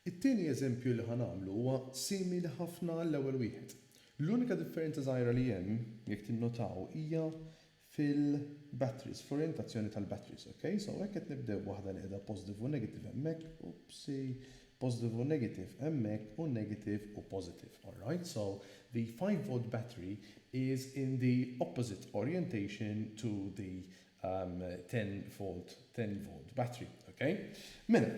It-tieni eżempju li ħa nagħmlu huwa simili ħafna għall-ewwel wieħed. L-unika differenza żgħira li hemm, jekk tinnotaw, hija fil-batteries, fl-orjentazzjoni tal-batteries, ok? So hekk qed nibdew b'waħda li qiegħda positive u negative hemmhekk, oopsi, positive u negative hemmhekk u negative u positive, alright? So the five volt battery is in the opposite orientation to the 10 volt, 10 volt battery, okay? Mela,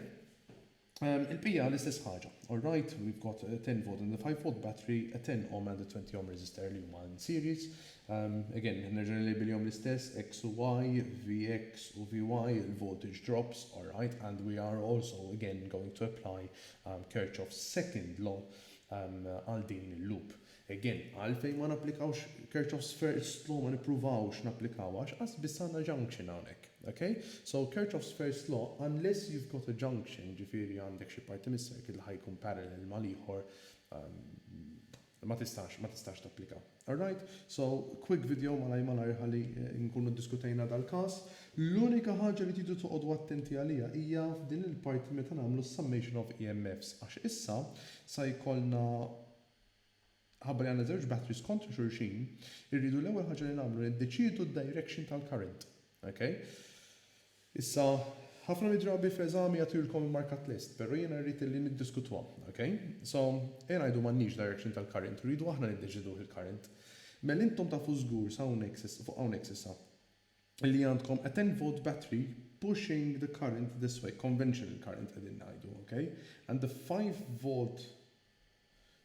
um, il-pija l-istess ħaġa. Alright, we've got a 10 volt and a 5 volt battery, a 10 ohm and a 20 ohm resistor li huma in series. Um, again, nerġa' nilbilhom l-istess, X u Y, Vx u Vy, il-voltage drops, alright, and we are also again going to apply um, Kirchhoff's second law um, għal um, din il-loop. Again, għalfejn ma napplikawx Kirchhoff's first law, ma nippruvawx napplikawha għax qas biss għandna junction hawnhekk. Ok? So Kirchhoff's first law, unless you've got a junction, ġifieri għandek xi parti mis-circuit li ħa jkun parallel mal-ieħor, ma tistax, ma tistax tapplika. Alright? So, quick video malajr malajr ħalli nkunu ddiskutejna dal-każ. L-unika ħaġa li tridu toqogħdu attenti għaliha hija f'din il-parti meta nagħmlu s-summation of EMFs għax issa sa jkollna, Minħabba li għandna żewġ batteries kontra xulxin, irridu l-ewwel ħaġa li nagħmlu niddeċiedu d-direction tal-current. Ok? Issa, ħafna mid-drabi fl-eżami jagħtilkom markat list, però jiena rrid li niddiskutuha. Ok? So, ejja ngħidu m'għandniex direction tal-current, u rridu aħna niddeċieduh il-current. Mela intom tafu żgur sa hawnhekk s'issa, fuq hawnhekk s'issa. li għandkom a 10 volt battery pushing the current this way, conventional current qegħdin ngħidu ok, and the 5 volt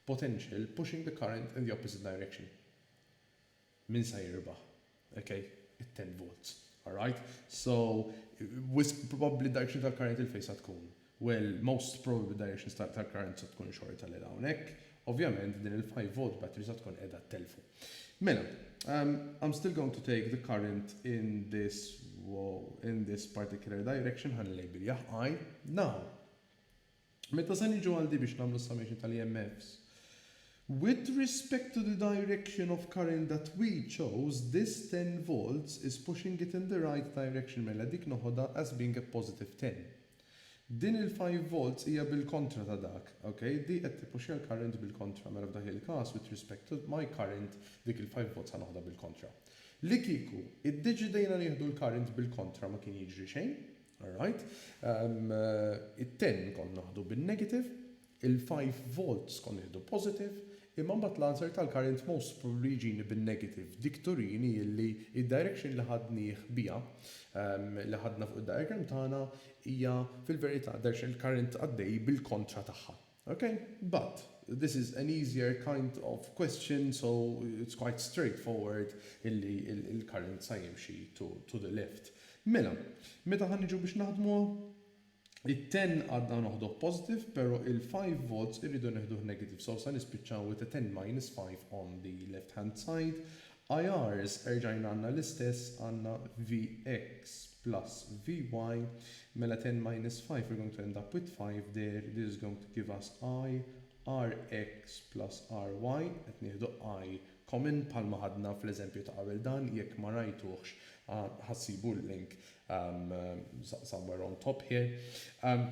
potential pushing the current in the opposite direction. Min sa jirbaħ? Ok, it 10 volts. Alright? So, wisq probabbli direction tal-current il-fejn sa tkun. Well, most probably directions ta' ta' Clarence se tkun xorta lil hawnhekk. Ovvjament din il-five volt battery se tkun qiegħda ttellfu. Mela, umm, I'm still going to take the current in this wow, in this particular direction, ħa nilgħib bil-jah I. Now, meta se niġu għal di biex nagħmlu s-summation tal-EMFs, with respect to the direction of current that we chose, this ten volts is pushing it in the right direction, mela dik noħodha as being a positive ten. Din il five volts hija bil-kontra ta' dak, ok? Di qed tippuxja l-current bil-kontra, mela f'dak il-każ with respect to my current dik il five volts ħa noħodha bil-kontra. Li kieku iddeċidejna nieħdu l-current bil-kontra ma kien jiġri xejn, alright? It-ten kont naħdu bin-negative, Il five volts kont nieħdu positive, imma mbagħad l-answer tal-current most probably jġini bin-negative. Dik turini illi id-direction li ħadnieh biha, li ħadna fuq id-diagram tagħna, hija fil-verità direction il-current għaddej bil-kontra tagħha. Ok? But, this is an easier kind of question, so it's quite straightforward illi il-current sa jimxi to the left. Mela, meta ħa niġu biex naħdmuha? It-ten għadna noħdoh positive pero il-five volts irridu neħduh negative so sa nispiċċaw with a ten minus five on the left hand side. IRs erġajna għandna l-istess għandna Vx plus Vy mela ten minus five we're going to end up with five there this is going to give us I Rx plus Ry qed nieħdu I common bħalma ħadna fl-eżempju ta' qabel dan jekk ma rajtuhx ħa ħassibu l-link somewhere on top here um,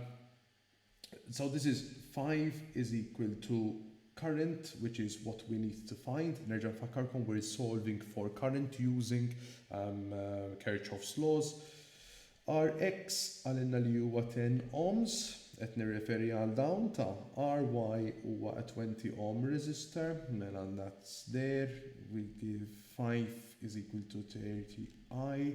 so this is 5 is equal to current which is what we need to find nerġa' nfakkarkom we're solving for current using um, uh, Kirchhoff's laws Rx għalinna li huwa 10 ohms, qed nirreferi għal dawn ta' Ry huwa a 20 ohm resistor, mela that's there, we give 5 is equal to 30 I